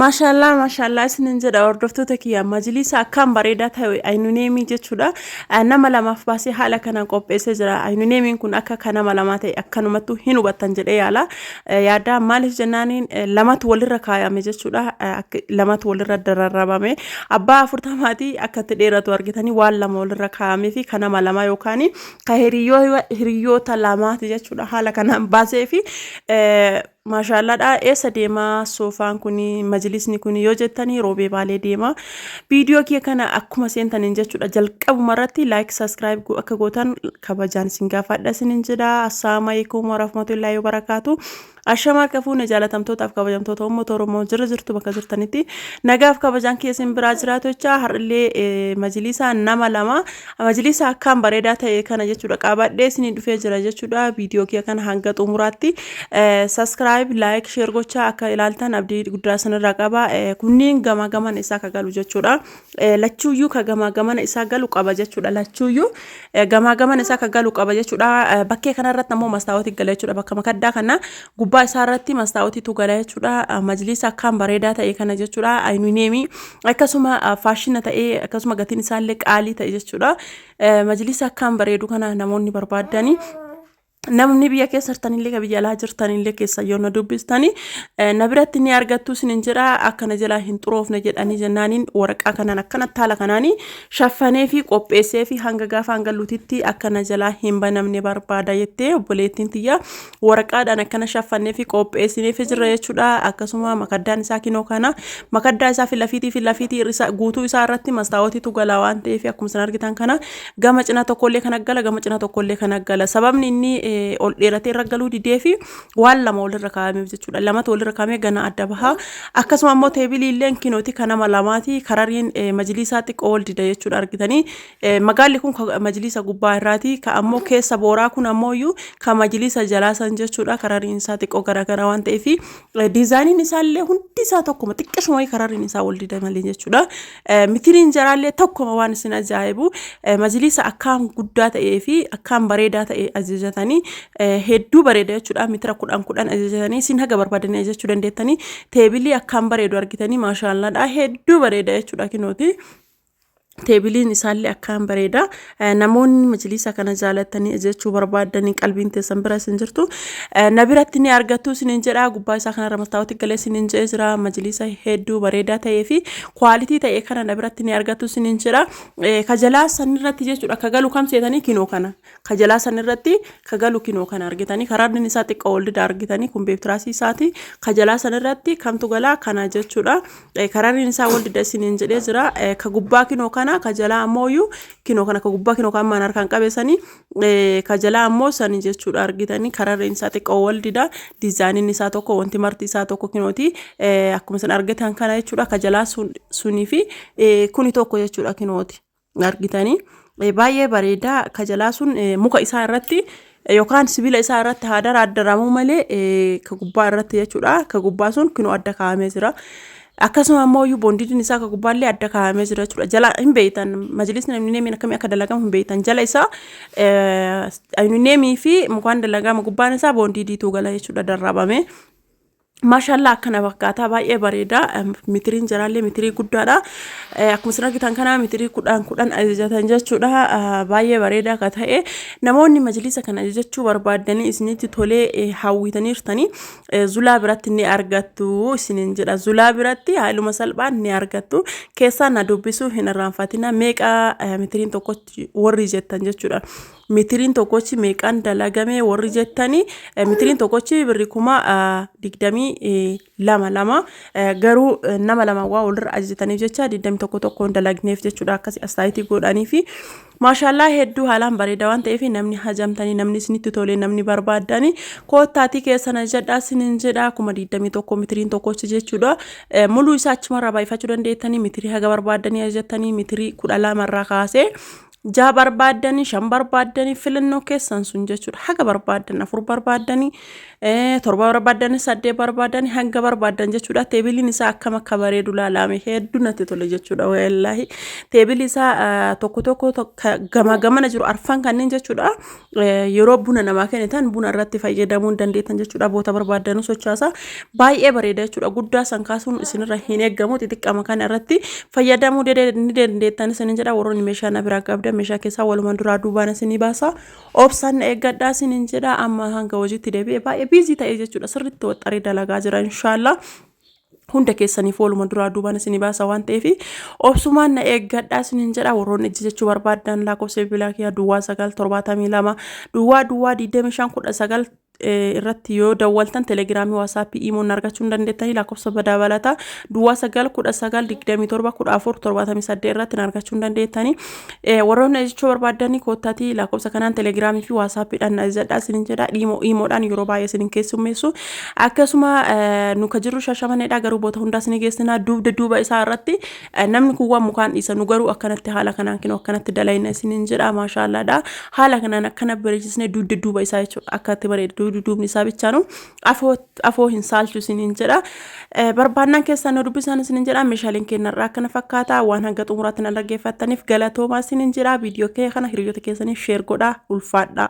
Maashaallah maashaallah isinin jedha hordoftoota kiyya majliisa akkaan bareedaa ta'e aynuneemii jechuudha Eh, nama lamaaf baasee haala kanaan qopheessee jira aynuneemiin kun akka kan nama lamaa ta'e akkanumattuu hin hubattan jedhee yaala Eh, yaadaa maaliif jennaaniin eh, lamatu walirra kaayame jechuudha Eh, akka- lamatu walirra dararrabame abbaa afurtamaatii akka itti dheeratu argitanii waan lama walirra kaayamee fi kan nama lamaa yookaan ka hiriyyoo- hiriyyoota lamaati jechuudha haala kanaan baasee fi eh, Maashaallaadha eessa deema soofaan kun majlisni kun yoo jettanii roobee baalee deema viidiyoo kiyya kana akkuma seentaniin jechuudha jalqabuma irratti laayik saskiraayib go- akka gootan kabajaan isin gaafadha isinin jedha assalaamu alaikum warahmatullaahi wabarakaatu ashama harka fuune jaalatamtootaaf kabajamtoota uummata oromoo jira jirtu bakka jirtanitti nagaaf kabajaan kee isin biraa jiraatu jecha har'illee eh, majlisaa nama lama Majliisa akkaan bareedaa ta'e kana jechuudha qaabadhee isinii dhufee jira jechuudha viidiyoo kiyya kana hanga xumuraatti saskiraayib laayik sheer gochaa akka ilaaltan abdii guddaa isinirraa qaba kunniin gamaa gamana isaa ka galu jechuudha lachuuyyuu ka gamaa gamana isaa galu qaba jechuudha lachuuyyuu gamaa gamana isaa ka galu qaba jechuudha bakkee kanarratti ammoo mastaawoti gala jechuudha bakka makaddaa kana gubbaa isaarratti mastaawotitu gala jechuudha majliisa akkaan bareedaa ta'e kana jechuudha ayinineemii akkasuma ah, faashina ta'ee akkasuma gatiin isaallee qaalii ta'e jechuudha. Eh, Majlisa akkaan bareedu kana namoonni barbaadanii namni biyya keessa jirtanillee ka biyya alaa jirtanillee keessa yoo na dubbistanii eh, na biratti ni argattu isinin jedha akkana jalaa hin xuroofne jedhanii jennaaniin waraqaa kanaan akkana taala kanaanii shaffanee fi qopheessee fi hanga gaafa hanga lutitti akkana jalaa hin banamne barbaada jettee obboleettiin tiyya waraqaadhaan akkana shaffannee fi qopheessinee fi jirra jechuudha. Akkasuma makaddaan isaa kinoo kana makaddaa isaa fi lafiitii fi lafiitii irrisa- guutuu isaa irratti mastaawotiitu gala waan ta'eef akkuma isin argitan kana gama cina tokkollee kana gala gama cina tokkollee kana gala. Sababni inni eh, ol dheeratee irra galuu didee fi waan lama walirra kaa'ameef jechuudha. Lamatu walirra kaa'amee gana adda baha. Akkasuma immoo teebilii illee kinooti kan nama lamaati. Karariin eh, majiliisaa xiqqoo wal dida jechuudha argitanii. Magaalli kun ka majliisa gubbaa irraati. Ka ammoo keessa booraa kun ammoo iyyuu ka majliisa jalaa san jechuudha. Karariin isaa xiqqoo garaagaraa waan ta'eef diizaayiniin isaallee hundi isaa tokkuma xiqqashuma wayii karariin isaa wal dida malee jechuudha. Mitiriin jaraallee tokkuma waan isin ajaa'ibu majliisa akkaan guddaa ta'ee fi akkaan bareedaa ta'e ajajatanii hedduu bareeda jechuudha. Mitira kudhan kudhan ajajatanii isin haga barbaadanii ajajachuu dandeettanii teebilii akkaan bareedu argitanii maashaallaadha hedduu bareeda jechuudha kinooti. teebiliin isaallee akkaan bareeda namoonni majliisa kana jaalatanii ajajachuu barbaadanii qalbiin teessan bira isin jirtu na biratti ni argattu isiniin jedha gubbaa isaa kanarra mastaawoti galee isiniin jedhee jira majliisa hedduu bareedaa ta'ee fi kwaalitii ta'e kana na biratti ni argattu isiniin jedha kajalaa sanirratti jechuudha akka galu kam seetanii kinoo kana ka jalaa san irratti ka galu kinoo kana argitanii ka raadni isaa xiqqoo ol dida argitanii kun beektiraasii isaati ka jalaa san irratti kamtu galaa kana jechuudha Eh, ka raadni isaa ol dida isiniin jedhee jira Eh, ka gubbaa kinoo kana ka jalaa ammoo iyyuu kinoo kana ka gubbaa kinoo kan maan harkaan qabeessanii Eh, ka jalaa ammoo sanii jechuudha argitanii ka raadni isaa xiqqoo ol dida diizaayiniin isaa tokko wanti marti isaa tokko kinooti Eh, akkuma isin argitan kana jechuudha ka jalaa sun- sunii fi eh, kuni tokko jechuudha kinooti. argitanii baay'ee bareedaa ka jalaa sun muka isaa irratti yookaan sibiila isaa irratti haa daraaddaramuu malee ka gubbaa irratti jechuudha ka gubbaa sun kunoo adda kaa'amee jira. Akkasuma ammoo iyyuu boondidiin isaa ka gubbaallee adda kaa'amee jira jechuudha. Jala hin beektan majlisni ayuunineemiin akkamii akka dalagamu hin beektan jala isaa ayuunineemii fi mukaan dalagama gubbaan isaa boondidiitu gala jechuudha darrabamee. Maashaallaa akkana fakkaataa baay'ee bareeda mitiriin jiraallee mitirii guddaadha akkuma isin argitan kana mitirii kudhaan kudhan ajajatan jechuudha baay'ee bareeda akka ta'e namoonni majlisa kan ajajachuu barbaaddanii isinitti tolee hawwitaniirtanii zulaa biratti ni argattu isiniin jedha zulaa biratti haaluma salphaan ni argattu keessaa na dubbisuu hin irraanfatina meeqa mitiriin tokkotti warri jettan jechuudha mitiriin tokkochi meeqaan dalagame warri jettani mitiriin tokkochi birri kuma digdamii lama lama garuu nama lama waa walirra ajajataniif jecha digdami tokko tokkoon dalagneef jechuudha akkasi astaayitii godhanii fi maashaallaa hedduu haalaan bareeda waan ta'eef namni hajamtanii namni isinitti tolee namni barbaaddanii koottaatii keessan ajajadhaa sinin jedha kuma digdamii tokko mitiriin tokkochi jechuudha muluu isaa achumarraa baay'ifachuu dandeettanii mitirii haga barbaaddanii ajajatanii mitirii kudha lamarraa kaasee jaha barbaaddanii shan barbaaddanii filannoo keessan sun jechuudha haga barbaaddan afur barbaaddanii eh, torba barbaaddanii saddeet barbaaddanii hanga barbaaddan jechuudha teebiliin isaa akkam akka bareedu laalaame hedduu natti tole jechuudha wallaahi teebilii isaa ah, tokko tokko tokko gama gamana jiru arfan kanneen jechuudha yeroo buna namaa kennitan buna irratti fayyadamuu hin dandeettan jechuudha boota barbaaddanuu sochaasaa baay'ee bareeda jechuudha guddaa san kaasuun isinirra hin eegamu xixiqqama kana irratti fayyadamuu ni dandeettan isinin jedha warroonni meeshaa na biraa qabdan meeshaa keessaa walumaan duraa duubaan isinii baasa obsaan na eeggadhaa isinin jedha amma hanga hojiitti deebi'e baay'ee biizii ta'ee jechuudha sirriitti waxxaree dalagaa jira inshaallah hunda keessaniif waluma duraa duubaan isin baasa waan ta'eef obsumaan na eeggadhaa isinin jedha warroonni ijji jechuu barbaadan lakkoofsa bilbilaa kiyyaa duwwaa sagal torbaatamii lama duwwaa duwwaa digdamii shan kudha sagal irratti yoo dawwaltan telegiraamii waasaappii iimoon argachuu hin dandeettanii lakkoofsa dabalataa duwwaa sagal kudha sagal digdamii torba kudha afur torbaatamii saddeet irratti argachuu hin dandeettanii Eh, warroonni ajechuu barbaaddan koottaatii lakkoofsa kanaan telegiraamii fi waasaappiidhaan na ajajadhaa isinin jedha dhiimoo iimoodhaan yeroo baay'ee isinin keessummeessu akkasuma eh, nu ka jirru shashamanedha garuu boota hundaa isinii geessina duubda duuba isaa irratti eh, namni kun waan mukaan dhiisa nu garuu akkanatti haala kanaan kinoo akkanatti dalayna isinin jedha maashaallaadha haala kanaan akkana bareechisne duubda duuba isaa jechuudha akkatti bareeda duubda duubni isaa bichaanu afoo xafoo hin saalchu isiniin jedha. Eh, Barbaannaan keessaan nu dubbisaan isiniin jedha. Meeshaaleen kennarraa akkana fakkaata. Waan hanga xumuraatti na dhaggeeffattaniif galatoomaa isiniin jedha. Viidiyoo kee kana hiriyoota keessaniif sheer godhaa ulfaadhaa.